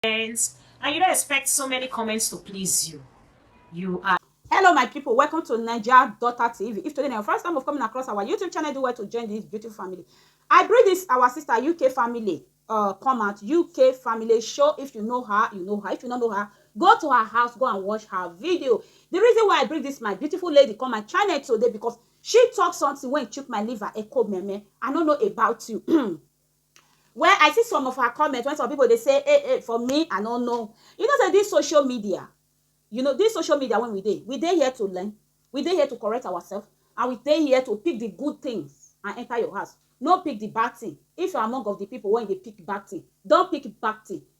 friends and you don't expect so many comments to please you. You are hello my people welcome to naija daughter tv if today na your first time of coming across our youtube channel do well to join this beautiful family i bring this our sister uk family uh come out uk family show if you know her you know her if you don't know her go to her house go and watch her video the reason why i bring this my beautiful lady come my channel today because she talk something when it took my liver echo meme i don't know about you Well, I see some of her comment when some people they say, hey, hey, for me, I don't know. You know, say this social media, you know, this social media when we dey, we dey here to learn, we dey here to correct ourselves, and we dey here to pick the good things and enter your house. No pick the bad thing. If you're among of the people when they pick bad thing, don't pick bad thing.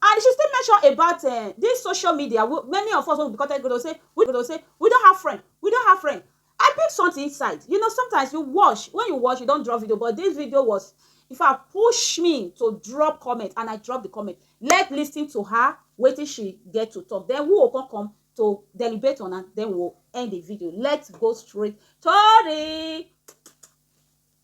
And she still mention about um this social media wey many of us wey we be content creator say we go say we don have friend, we don have friend. I pick something inside, you know sometimes you watch when you watch you don drop video but this video was in fact push me to drop comment and I drop the comment. Let listen to her wetin she get to talk then we go come come to deliberate on am then we go end the video. Let's go straight to the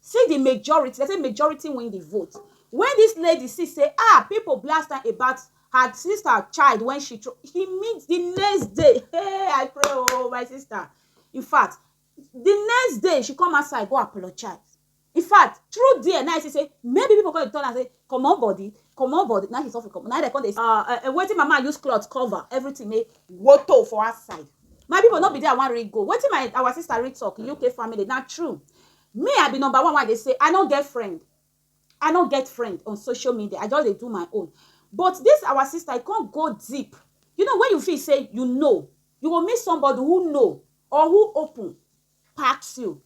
See di majority, dem say majority win di vote wen dis lady see say ah pipo blast am about her sister child wen she throw she meet di next day hey I pray oo oh, my sister in fact di next day she come outside go apologize in fact through there na I see say maybe pipo come dey tell am say comot body comot body na she suffer comot na dem come dey ah eh, eh wetin mama use cloth cover everything make woto for outside my pipo no be there I wan read go wetin my our sister read talk UK family na true Me I be number one wey I dey say I no get friend I no get friend on social media I just dey do my own but this our sister e come go deep you know when you feel say you know you go meet somebody who know or who open pass you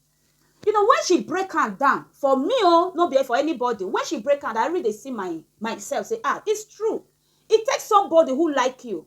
you know when she break am down for me o no be for anybody when she break am down I really dey see my myself say ah it's true it takes somebody who like you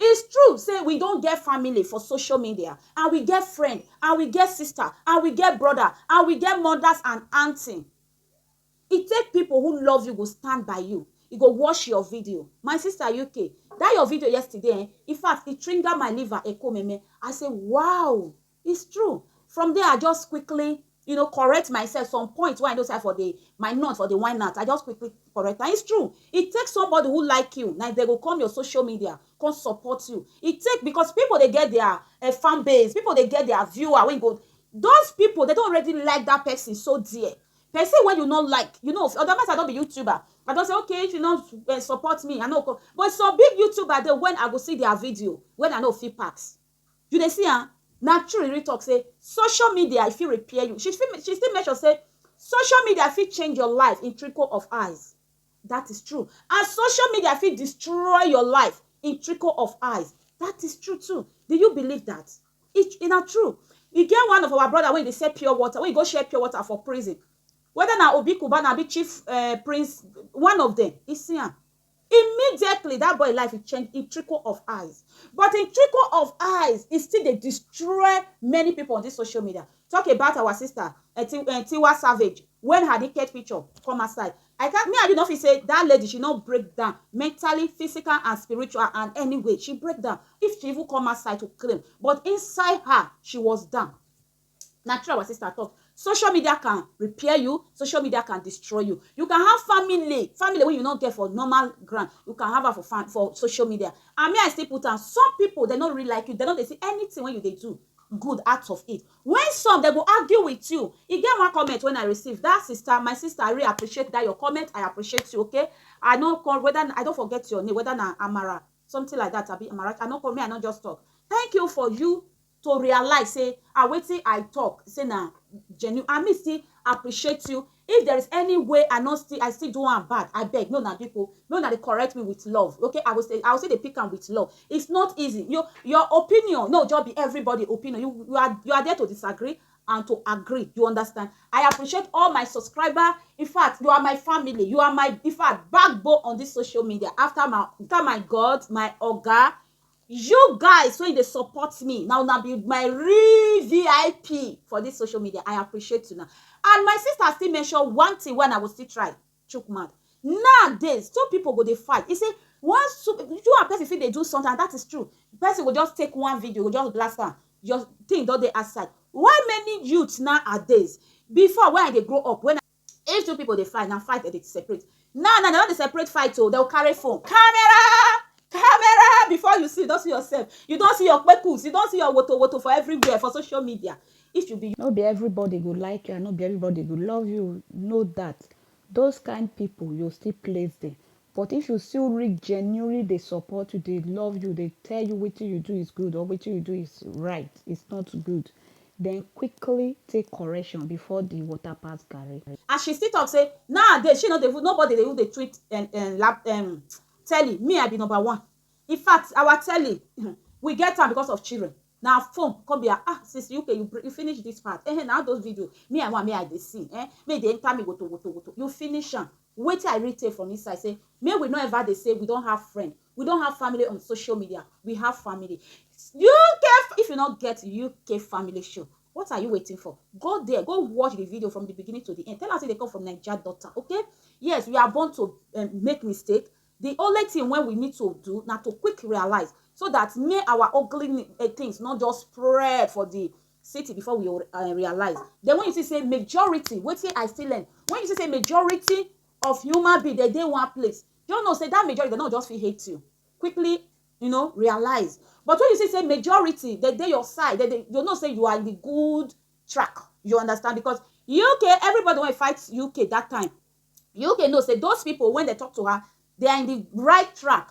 It's true say we don get family for social media and we get friend and we get sister and we get brother and we get mothers and aunty. E take people who love you go stand by you. E go watch your video. My sister UK, that your video yesterday, eh, in fact, it triggered my liver, ekomeme. I say, wow, It's true. From there, I just quickly, you know, correct myself. Some point where I know say for the my not for the why not. I just quickly correct. And it's true. It takes somebody who like you. Now they go come your social media, come support you. It take because people they get their uh, fan base, people they get their viewer. When go, those people they don't already like that person so dear. Person when you not like, you know, otherwise I don't be YouTuber. I don't say okay if you not uh, support me, I know. But some big YouTuber they when I go see their video when I know fee packs. You dey see am? Na true Riri talk say social media e fit repair you. She still she still mention say social media fit change your life in trickle of eyes. That is true and social media fit destroy your life in trickle of eyes. That is true too. Do you believe that? E e na true. E get one of our brother wey e dey sell pure water, wey e go share pure water for prison. Whether na Obi Cubana abi Chief um Prince, one of them, e see am. Immediately that boy life e change in trickle of eyes but in trickle of eyes e still dey destroy many people on this social media talk about our sister eh, eh, Tiwa Savage when her naked picture come outside I can't me I do not feel say that lady she not break down mentally physical and spiritual and anyway she break down if she even come outside to claim but inside her she was down Na true our sister talk. Social media can repair you, social media can destroy you. You can have family, family wey you no get for normal ground, you can have am for fam for social media. And me I still put am, some pipu dem no really like you, dem no dey see anything wey you dey do good out of it. When some dem go argue with you, e get one comment when I receive, that sister, my sister I really appreciate that your comment, I appreciate you okay. I no come whether I don forget your name, whether na Amara something like that abi Amarachi, I no come, me I no just talk. Thank you for you to realize say ah wetin I talk say na genuine and me still appreciate you if there is any way I no still I still do am bad abeg make una biko make una dey correct me with love okay I go say I go still dey pick am with love it's not easy you your opinion no just be everybody opinion you you are you are there to disagree and to agree you understand I appreciate all my subscriber in fact you are my family you are my in fact backbone on this social media after my after my God my oga You guys wey dey support me, na una be my real VIP for this social media. I appreciate una. And my sister still mention one thing wey I go still try chook mouth. Nowadays, two people go dey fight. He say, once two, you and person fit dey do something, and that is true. Person go just take one video, go just blast am, your thing don dey outside. Why many youths nowadays, before when I dey grow up, when I. If two people dey fight, na fight dem dey separate. Now now dem don dey separate fight o, dem go carry phone. Camera! Camera! Before you see, you don see yourself. You don see your kpekus, you don see your woto woto for everywhere for social media. If you be No be everybody go like you and no be everybody go love you. Know that. Those kind people, you still place them. But if you see who really genuinely dey support you, dey love you, dey tell you wetin you do is good or wetin you do is right, is not good, then quickly take correction before the water pass garri. As she still talk say nowadays she no dey even nobody dey even dey tweet um um lap um telly, me I be number one. In fact our telly um we get am because of children, na phone come be her um since UK you you finish this part um na all those video me I want make I dey see um make e dey enter me wotowotowoto, you finish am. Wetin I really take from inside say make we no ever dey say we don have friend, we don have family on social media, we have family. UK if you no get UK family show what are you waiting for? Go there go watch the video from the beginning to the end tell am say dey come from Naija daughter okay yes we are born to um, make mistake the only thing wey we need to do na to quick realize so that may our ugly eh, things not just spread for the city before we uh, realize then when you see say majority wetin i still learn when you see say majority of human being dey dey one place you know say that majority dem no just fit hate you quickly you know realize but when you see say majority dey dey your side dey dey you know say you are in the good track you understand because uk everybody wey fight uk that time uk know say those people when they talk to her they are in the right track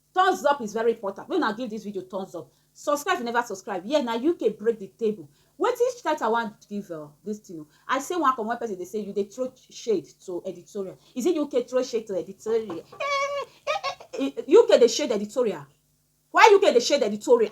Thumbs up is very important. Make una give this video thumbs up. Subscribe if you never subscribe. Yeah, na UK break the table. Wetin title I wan give uh, this thing o. I say one from one person dey say you dey throw shade to editorial. Is it UK throw shade to editorial? Eh, eh, eh, eh, UK dey shade editorial. Why UK dey shade editorial?